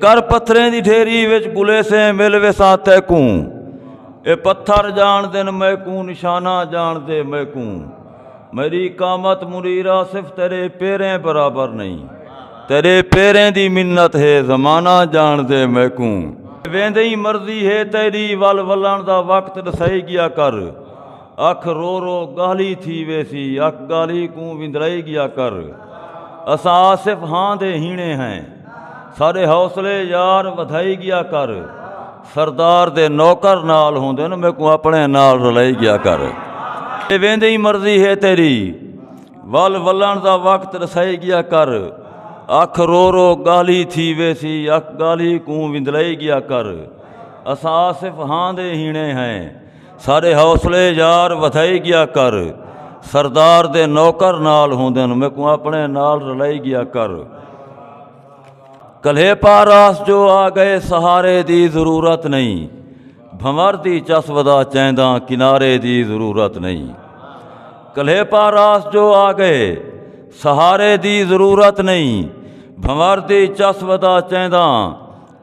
کر پتھریں دی ڈھیری وچ گلیسیں مل ویسا تیکوں اے پتھر جان دن میکوں نشانہ جان دے میکوں میری قامت مریرا صرف تیرے پیریں برابر نہیں تیرے پیریں دی منت ہے زمانہ جان دے میکوں ویندے ہی مرضی ہے تیری ول ولن دا وقت دسائی گیا کر اکھ رو رو گالھی تھی ویسی اکھ گالھی کوں وندرائی گیا کر اساں آصف ہاں دے ہینے ہیں ساڈے حوصلے یار ودھائی گیا کر سردار دے نوکر نال ہوندے نو میکوں اپنے نال رلائی گیا کر اے ویندے ہی مرضی ہے تیری ول ولن دا وقت رسائی گیا کر اکھ رو رو گالھی تھی ویسی اکھ گالھی کوں وندرائی گیا کر اساں آصف ہاں دے ہینے ہیں ساڈے حوصلے یار ودھائی گیا کر سردار دے نوکر نال ہوندن میکوں اپنے نال رلائی گیا کر کلھے پاراس جو آ گئے سہارے دی ضرورت نہیں بھنور دی چس ودا چیندا کنارے دی ضرورت نہیں کلھے پاراس جو آ گئے سہارے دی ضرورت نہیں بھنور دی چس ودا چیندا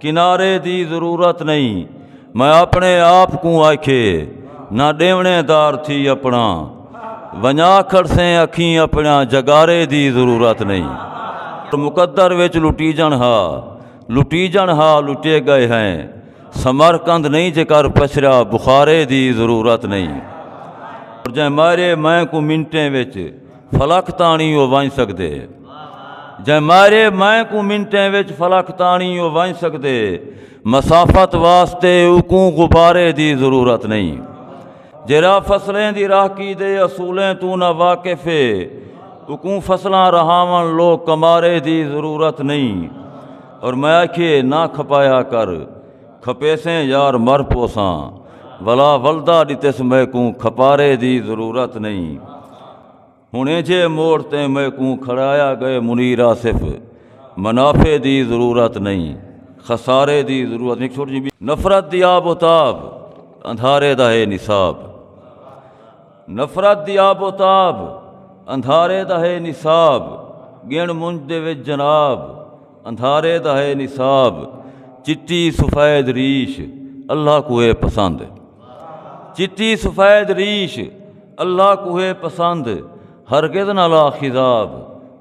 کنارے دی ضرورت نہیں میں اپنے آپ کو آکھے نہ ڈیونے دار تھی اپنا ونجا کھڑسیں اکھیں اپنا جگارے دی ضرورت نہیں مقدر وچ لٹی جن ہا لٹی جن ہا لٹے گئے ہیں سمر کند نہیں جے کر پچھرا بخارے دی ضرورت نہیں جے مارے میں کو منٹیں وچ فلک تانی او ونج سکدے جے مارے میں کو منٹیں وچ فلک تانی او ونج سکدے مسافت واسطے اکوں غبارے دی ضرورت نہیں جرا فصلیں دی راہکی دے اصولیں تو نہ واقف ہے اکوں فصلاں رہاون لو کمارے دی ضرورت نہیں اور میں آکھیے نہ کھپایا کر کھپیسیں یار مر پوساں ولا ولدا ڈتس میں کوں کھپارے دی ضرورت نہیں ہنے جے موڑ تے میں کوں کھڑایا گئے منیر آصف منافع دی ضرورت نہیں خسارے دی ضرورت نہیں چھوٹ جی نفرت دی آب و تاب اندھارے دا ہے نصاب نفرت دی آب و تاب اندھارے دا ہے نصاب گن منج دے وچ جناب اندھارے دا ہے نصاب چٹی سفید ریش اللہ کو ہے پسند چٹی سفید ریش اللہ کو ہے پسند ہرگز نہ لا خضاب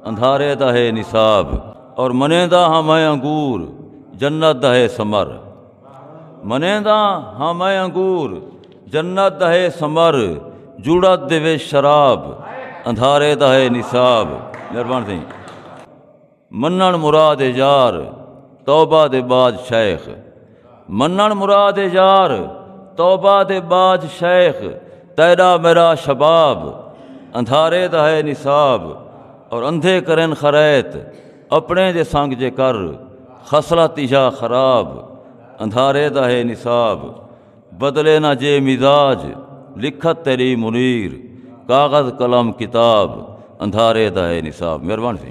اندھارے دا ہے نصاب اور منے دا ہاں میں انگور جنت دا ہے سمر منینداں ہاں میں انگور جنت دا ہے سمر جڑت دے وچ شراب اندھارے دا ہے نصاب مہربان تھی منن مراد یار توبہ دے بعد شیخ منن مراد یار توبہ دے بعد شیخ تیرا میرا شباب اندھارے دا ہے نصاب اور اندھے کرن خریت اپنے دے سنگ جے کر خصلہ تیجا خراب اندھارے دا ہے نصاب بدلے نہ جے مزاج لکھت تیری منیر کاغذ قلم کتاب اندھارے دا ہے نصاب مہربان سی